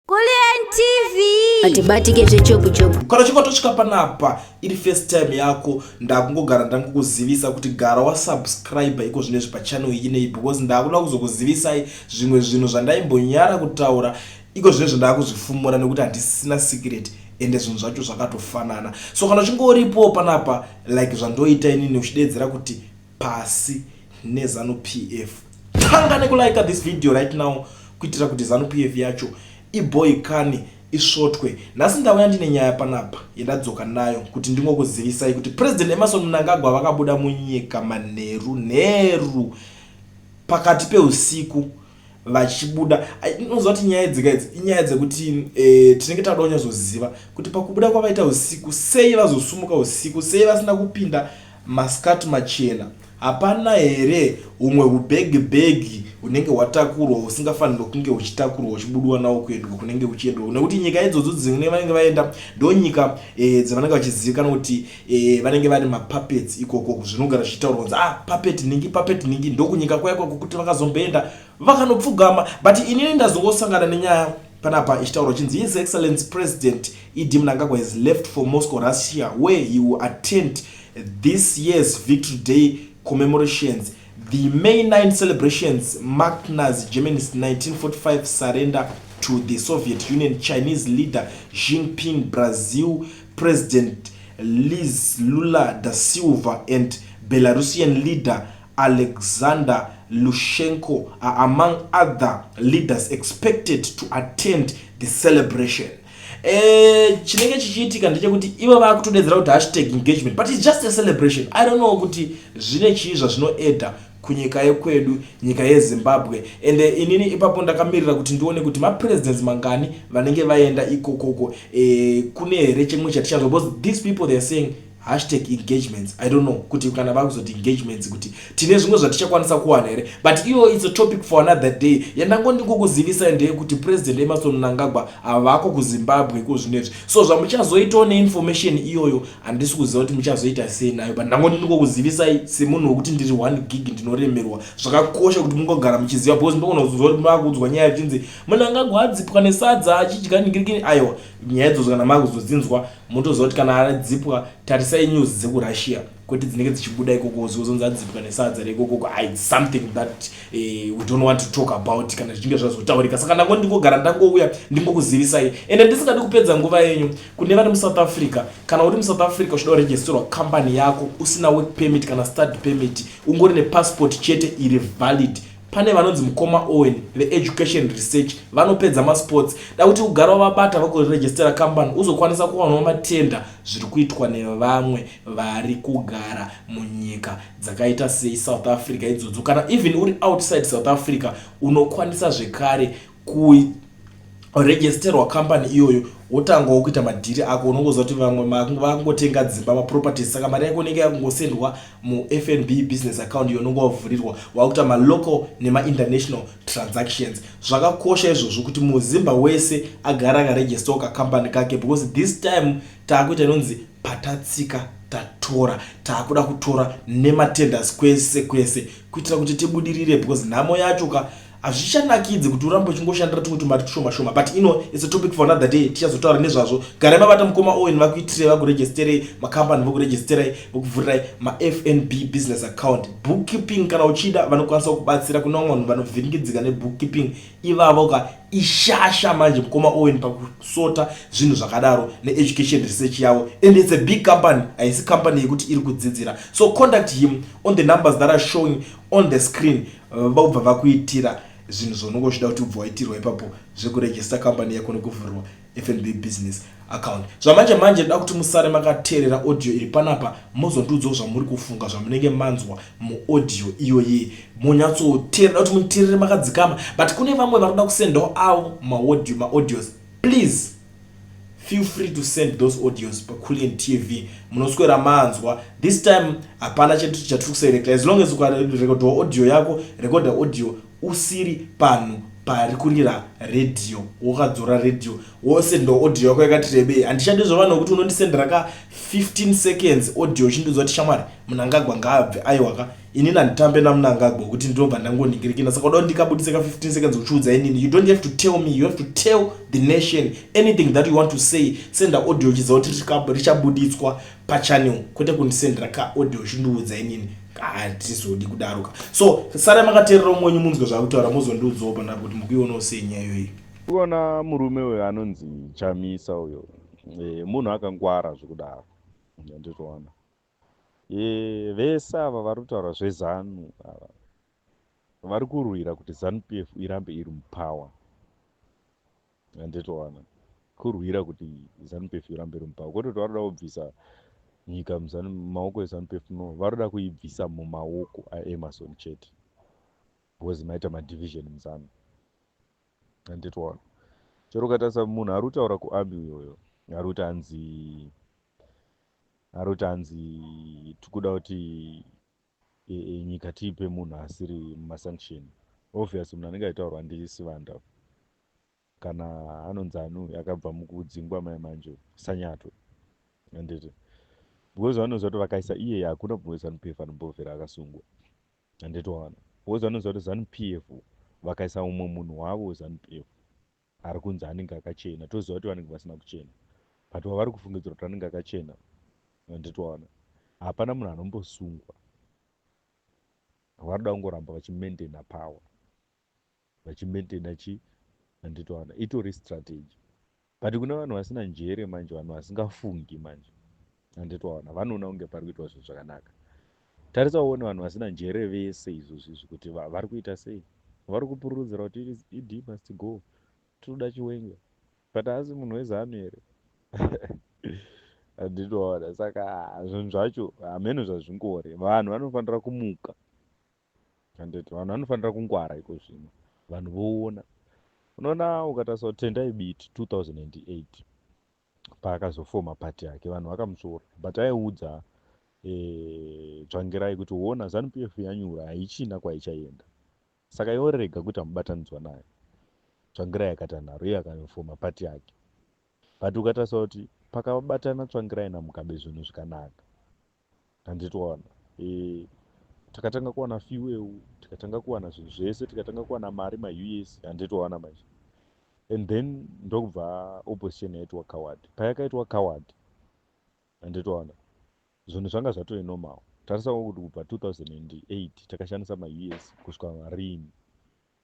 Kulliant TV. Atibatike zvechopu chopu. Kana uchinge watosvika panapa iri first time yako ndakungogara ndangokuzivisa kuti gara wasubscribe iko zvine zvipa channel iyi nei because ndakuda kuzokuzivisai zvimwe zvinhu zvandaimbonyara kutaura iko zvine zvandakuzvifumura nekuti handisina secret ende zvinhu zvacho zvakatofanana so kana uchinge uripo panapa like zvandoita inini uchideedzera kuti pasi nezanu PF. Tanga nekulika this video right now kuitira kuti zanu PF yacho iboikane isvotwe. Nhasi ndauya ndine nyaya panapa yendadzoka nayo kuti ndingokuzivisai kuti President Emerson Mnangagwa vakabuda munyika manheru nheru pakati peusiku vachibuda unoziva kuti nyaya dzega idzi inyaya dzekuti e, tinenge tauda kunyazoziva kuti pakubuda kwavaita usiku sei vazosumuka usiku sei vasina kupinda maskati machena hapana here humwe hubhegi bhegi hunenge hwatakurwa husingafanirwa kunge huchitakurwa huchibudiwa nawo kuendwa kunenge uchiendwa nekuti nyika idzodzo dzine vanenge vaenda ndonyika e, dzavanenge vachizivikana kuti Eh, vanenge vari mapuppets ikoko zvinogara zvichitaurwa kunzi ah puppet ningi puppet ningi ndokunyika kwaya kwako kuti vakazomboenda vakanopfugama but inini ndazongosangana nenyaya panapa ichitaurwa chinzi his excellence president ed mnangagwa has left for moscow russia where he will attend this year's victory day commemorations the may 9 celebrations marked nazi germany's 1945 surrender to the soviet union chinese leader xinping brazil President Liz Lula da Silva and Belarusian leader Alexander Lushenko are among other leaders expected to attend the celebration. Eh, chinenge chichiitika ndechekuti ivo vakutodedzera kuti hashtag engagement but its just a celebration i don't know kuti zvine chii zvazvinoeda kunyika yekwedu nyika yezimbabwe ende inini ipapo ndakamirira kuti ndione kuti mapresidents mangani vanenge vaenda ikokoko e, kune here chimwe chatichanzwa because these people theyare saying hashtag engagements i don't know kuti kana vakuzoti engagements kuti tine zvimwe zvatichakwanisa kuwana here but iyo its a topic for another day yandango ndikukuzivisa ndeye kuti president emason mnangagwa avako kuzimbabwe ko zvinezvi so zvamuchazoitawo neinformation iyoyo handisi kuziva kuti muchazoita sei nayo but ndangoti ndingokuzivisai semunhu wekuti ndiri one gig ndinoremerwa zvakakosha kuti mungogara muchiziva because ndogona kuzoziva kuti maakuudzwa nyaya yachinzi munhu angagwa adzipwa nesadza achidya ningirikini aiwa nyaya idzodzo kana maakuzodzinzwa motoziva kuti kana adzipwa tarisai news dzekurussia kwete dzinenge dzichibuda ikoko zozonzi adzipwa nesadza reikokoko i something that uh, we don't want to talk about kana zvichinge zvazotaurika saka ndangoti ndingogara ndangouya ndingokuzivisai ende ndisingadi kupedza nguva yenyu Kune vari muSouth Africa, kana uri muSouth Africa uchida kuregisterwa company yako usina work permit kana study permit, ungori nepassport chete iri valid, pane vanonzi mukoma Owen veEducation Research vanopedza masports. Da kuti ugare wavabata vakuregistera company uzokwanisa kuwanawo matenda zviri kuitwa nevamwe vari kugara munyika dzakaita sei South Africa idzodzo. Kana even uri outside South Africa unokwanisa zvekare kuregisterwa company iyoyo wotangawo kuita madhiri ako unongoziva kuti vamwe vakungotenga dzimba maproperties saka mari yako inenge yakungosendwa mufnb business account iyo unonge wavhurirwa wakuita malocal nemainternational transactions zvakakosha izvozvo kuti muzimba wese agara akaregistawo kacompany kake because this time taakuita inonzi patatsika tatora taakuda kutora nematenders kwese kwese kuitira kuti tibudirire because nhamo yacho ka hazvichanakidzi kuti urambe uchingoshandira tumwe tumari tushoma shoma but ino is a topic for another day tichazotaura nezvazvo garai mabata mukoma owen vakuitirei vakuregisterei makambani vokuregisterai vokuvhurirai mafnb business account bookkeeping kana uchida vanokwanisa kubatsira kune vamwe vanhu vanovhiringidzika nebookkeeping ivavo ka ishasha manje mukoma owen pakusota zvinhu zvakadaro needucation research yavo and its a big company haisi company yekuti iri kudzidzira so contact him on the numbers that are showing on the screen vobva vakuitira zvinhu zvaunenge uchida kuti ubva waitirwa ipapo zvekuregista company yako nekuvhurwa fnb business account zvamanje manje ndoda kuti musare makateerera audio iri panapa mozondiudzawo zvamuri kufunga zvamunenge manzwa muaudio iyoyi monyatsoteerera kuti muteerere makadzikama but kune vamwe varoda kusendawo avo maaudio maaudios please feel free to send those audios pakulliant tv munoswera manzwa this time hapana chatiri kuserekta as long as ukarekodhawo audio yako rekodha audio usiri panhu pari kurira radio wakadzora radio wose ndo audio yako yakati rebei handichadi zvavanhu kuti unondisendera ka 15 seconds audio uchindiudza kuti shamwari munangagwa ngaabve aiwaka ini nanditambe namunangagwa wekuti ndinobva ndangoningirikina saka uda ndikabudise ka 15 seconds uchiudza inini you don't have to tell me you have to tell the nation anything that you want to say senda audio chidza kuti richabuditswa pachannel kwete kundisendera ka audio uchindiudza inini hatizodi kudaro ka so sara makateerera umwenyu munzwe zvakutaura mozondiudzawo pandapo kuti mukuionawo sei nyaya iyoyi kuona murume uyo anonzi chamisa uyo eh, munhu akangwara zvekudaro ndizvoona Vese ava varikutaura zveZanu ava varikurwira kuti Zanu PF irambe iri mupower anditowana kurwira kuti Zanu PF irambe iri mupower kwete kuti varoda kubvisa nyika mumaoko eZanu PF no varoda kuibvisa mumaoko aEmmerson chete because maita madivision muZanu anditowana chero ukatarisa munhu ari kutaura kuarmy uyoyo ari kuti anzi aroti hanzi tikuda kuti e, e, nyika tiipe munhu asiri mumasanction obvious munhu anenge aitaurwa ndisivanda kana anonzi anu akabva mukudzingwa mai manje sanyato handiti because vanoziva kuti vakaisa iyeye hakuna kumwe zanup f anombovera akasungwa handiti waona because vanoziva kuti zanup f vakaisa umwe munhu wavo zanup f ari kunzi anenge akachena toziva kuti vanenge vasina kuchena but wavari kufungidzira kuti anenge akachena anditwaona hapana munhu anombosungwa vanoda kungoramba vachimaintaina power vachimaintaina chi anditwaona itori strategy but kune vanhu vasina njere manje vanhu vasingafungi manje handiti waona vanoona kunge pari kuitwa zvinhu zvakanaka tarisa uone vanhu vasina njere vese izvozvi izvi kuti vari kuita sei vari kupururudzira kuti ed must go tinoda chiwenga but haasi munhu wezanu here handiti waona saka zvinhu zvacho hameno zvazvingori vanhu vanofanira kumuka handiti vanhu vanofanira kungwara iko zvino vanhu voona unoona ukatarisa kutendai biti 2008 paakazofoma party yake vanhu vakamusvora but aiudza eh, dzvangirai e, kuti wona zanu pf yanyura haichina kwaichaenda saka yorega kuita mubatanidzwa nayo tsvangirai akati anaro iye akafoma party yake but ukatarisa kuti pakabatana tsvangirai namugabe zvinhu zvikanaka handiti waona e, takatanga kuwana fiweu tikatanga kuwana zvinhu zvese tikatanga kuwana mari maus handiti waona manje and then ndokubva opposition yaitwa coward payakaitwa coward handiti waona zvinhu zvanga zvatove normal tarisawo kuti kubva 2008 takashandisa maus kusvika marini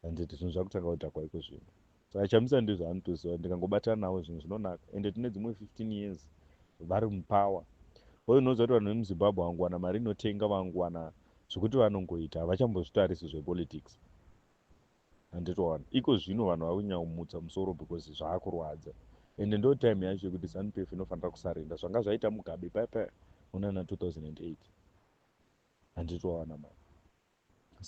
handiti zvinhu zvakutanga kudhakwa iko zvino saka chamisa ndizvo anotoziva ndingangobatana navo zvinhu zvinonaka ende tine dzimwe 15 years vari mupower hoyo unoziva kuti vanhu vemuzimbabwe vanguwana mari inotenga vanguwana zvekuti vanongoita havachambozvitarisi zvepolitics handitoona iko zvino vanhu vakunyaumutsa musoro because zvaakurwadza ende ndo time yacho yekuti zanup f inofanira kusarenda zvanga zvaita mugabe paipa munana 2008 handitoona mari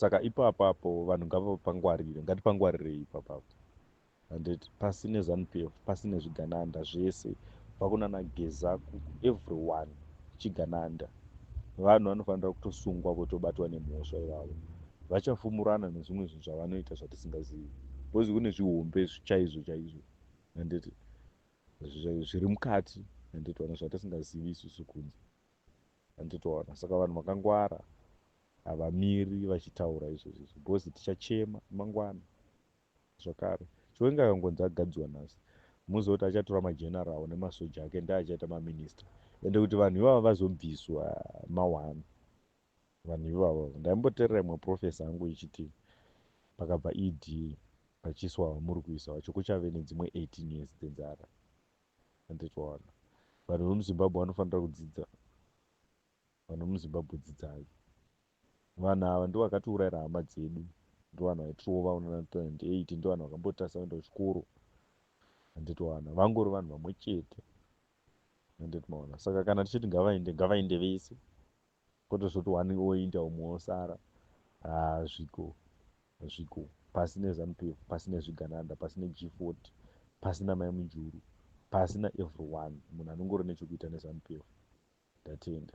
saka ipapa apo vanhu ngavapangwarire ngatipangwarirei ipapa apo handiti pasi nezanupf pasi nezvigananda zvese vakunana geza everyone chigananda vanhu vanofanira kutosungwa votobatwa nemhosva ivavo vachafumurana nezvimwe zvinhu zvavanoita zvatisingazivi bcause kune zvihombe zvichaizvo chaizvo handiti zviri mukati handiti vana zvatisingazivi isusu kunze Handitoona saka vanhu vakangwara havamiri vachitaura izvozvi because tichachema mangwana zvakare chiwenga akangonzi agadziwa nhasi muziva kuti achatora mageneral nemasoja ake ndi achaita maminista ende kuti vanhu ivavo vazobviswa mawani vanhu ivavo ndaimboterera imwe profesa angu ichiti pakabva ed vachiiswa vamuri kuisa vacho kuchave nedzimwe 18 years dzenzara anditowana vanhu vemuzimbabwe vanofanira kudzidza vanhu vemuzimbabwe dzidzai vanhu ava ndo vakatiurayira hama dzedu ndo vanhu vaitirova una 1998 ndo vanhu vakambotasa kuenda kuchikoro anditowana vangori vanhu vamwe chete anditomaona saka kana tichiti ngavaende ngavaende vese Kotozoti one oinda umwe osara haa zviko zviko pasi neZanu PF pasi nezvigananda pasi neG40 pasi namai Mujuru pasi naeveryone munhu anongori nechokuita neZanu PF. Ndatenda.